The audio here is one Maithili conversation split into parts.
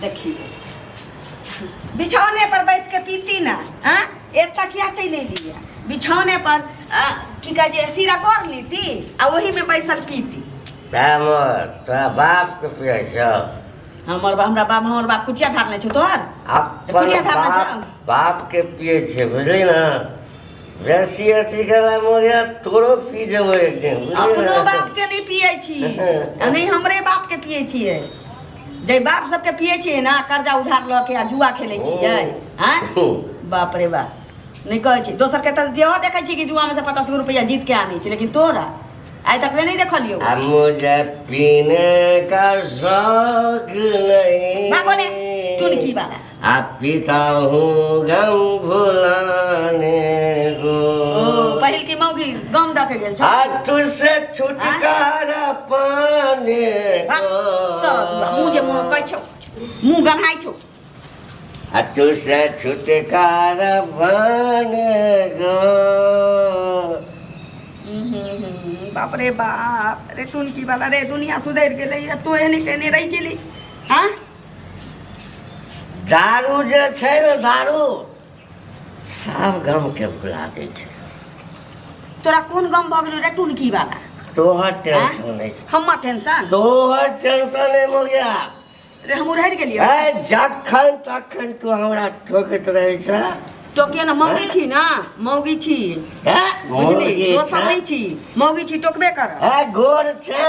देखी बिछौने पर बैस के पीती ना हाँ एक तकिया चले लिया बिछौने पर आ, की कहे जे सीरा कर लीती आ वही में बैसल पीती हमर तोरा बाप के पिए छौ हमर बा- हमरा बाप हमर बाप कुचिया धार ले छो तोहर अपन कुटिया धार में बाप जाओ। बाप के पिए छै बुझली ने रसिया टिकला मोरिया तोरो पी जेबो एक दिन अपनो बाप के नहीं पिए छी आ नहीं हमरे बाप के पिए छी जे बाप सबके पिए छी ना कर्जा उधार ल के आ जुआ खेले छी है हैं बाप रे बाप नहीं कहे छी दोसर के त जेहो देखे छी कि जुआ में से 50 रुपया जीत के आनी छी लेकिन तोरा आइ तक नहीं देखलियो आ मुझे पीने का शौक नहीं भागो ने चुनकी वाला पहिल की मौगी गम दऽ के गेल छौ आ तू से छुटकारा पाने मुँह जे मुँह कहै छौ मुँह गन्हाइ छौ आ तू से छुटकारा पाने गो बाप रे बाप रे टुनकी वाला रे दुनिया सुधरि गेलै तो एहने केने रहि गेली हाँ दारू जे छै ने दारू सब गम के भुला दै छै तोरा कोन गम भऽ गेलो रे टुनकी वाला तोहर टेंशन आँय? नहि छै हमर टेंशन तोहर टेंशन नहि हो गया रे हम उड़हर गेलियो ए जखन तखन तू हमरा ठोकैत रहै छै तो के ना मौगी छी ना मौगी छी ए, बुझली मुर्गी दोसर छै। नहीं छी मौगी छी टोकबे कर ए गोर छै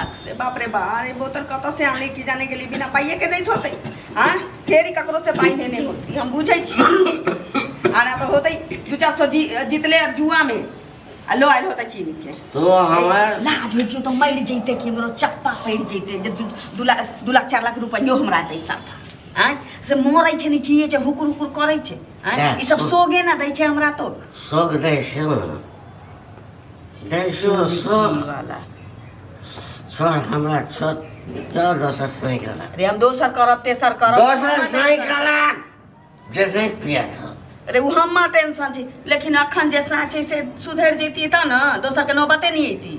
अरे बाप रे बा अरे बोतल कतऽ से आने की जाने के लिए बिना पाइए के दैत होतै आ फेर ई ककरो से पाइ नेने होत ई हम बुझै छी आ ना तो होतै दू चार सौ जी जीतले आर जुआ में आ लो आयल होतै कीन के तो हमार लाज होइतियो तऽ मरि जैते कि हमरो चप्पा पड़ि जैते जे दू दू लाख दू लाख चारि लाख रुपैयो हमरा दै साथा आँय से मरै छै ने छियै छै हुकुर हुकुर करै छै आँय क्या? ई सब सोगे ना दै छै हमरा तो सब दै छै ना हमरा छत क्या दोसर सही करा अरे हम दोसर करब तेसर करब दोसर सही करा जे नहीं पिया था अरे वो हम टेंशन छी लेकिन अखन जे साँच है से सुधर जैती त न दोसर के नौबते नहीं अयती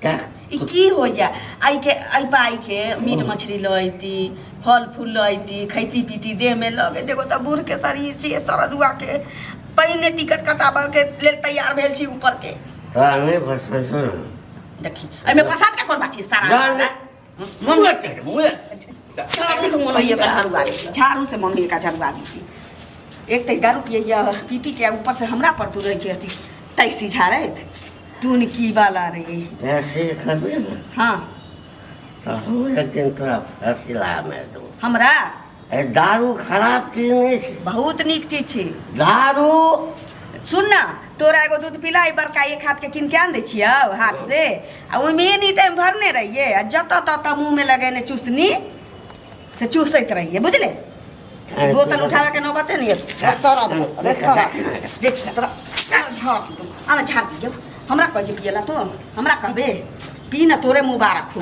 का ई की हो जा आई के आई पाई के मीट मछली लैती फल फूल लैती खैती पीती देह में लगे देखो तो बूढ़ के शरीर छी सरदुआ के पहिने टिकट कटाबऽ के लेल तैयार भेल छी ऊपर के तोरा नहि पसन्द छौ ने देखी एहिमे पसंद के कोन बात छै सारा जान मुंह में तेल मुंह में झाड़ू से मन होइए एकर झाड़ू आबी झाड़ू से मन होइए एकर झाड़ू आबी एक तऽ दारू पिए या पी पी के ऊपर से हमरा पर तू रहै छै अथी टैक्सी झाड़ैत टून की वाला रे ऐसे करबे ने हाँ तऽ हम एक दिन तोरा फैसला में देबो हमरा दारू खराब चीज नहीं छै बहुत निक चीज छै दारू सुन ना तोरा एगो दूध पिलाई बड़का एक हाथ के किन के आन दे छियो हाथ से आ ओहि में एनी टाइम भरने रहिए आ जत तत मुंह में लगेने चूसनी से चूसैत रहिए बुझले बोतल उठावे के नौबते नहीं है सारा अरे सारा देख तोरा सारा झाड़ दू आना झाड़ दियो हमरा कह जे पियला तो हमरा कहबे पी ना तोरे मुबारक हो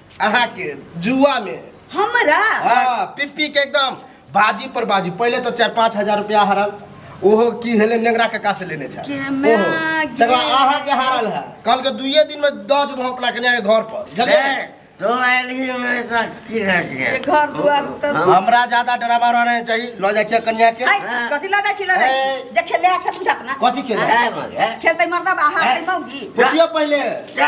अहाँ के जुआ में हमरा हाँ पिप्पी के एकदम बाजी पर बाजी पहले तो चार पाँच हजार रुपया हरल ओहो की हेले नेंगरा कका से लेने छा के ओहो माँ गे। तकर बाद अहाँ के हारल है कल के दुइये दिन में दस जब हम अपना कन्या के घर पर बुझलियै? तो आयल ही मैं तो की रह गया ये घर दुआर तब हमरा ज्यादा ड्रामा रहना चाहिए लऽ जाइ छियै कन्या के हाय, कथी लऽ जाइ छी लऽ जाइ छी ए। जे खेले आके पूछ अपना कथी खेल है मगे खेलतै मर्दा बाहर तै मौगी पूछियो पहले जा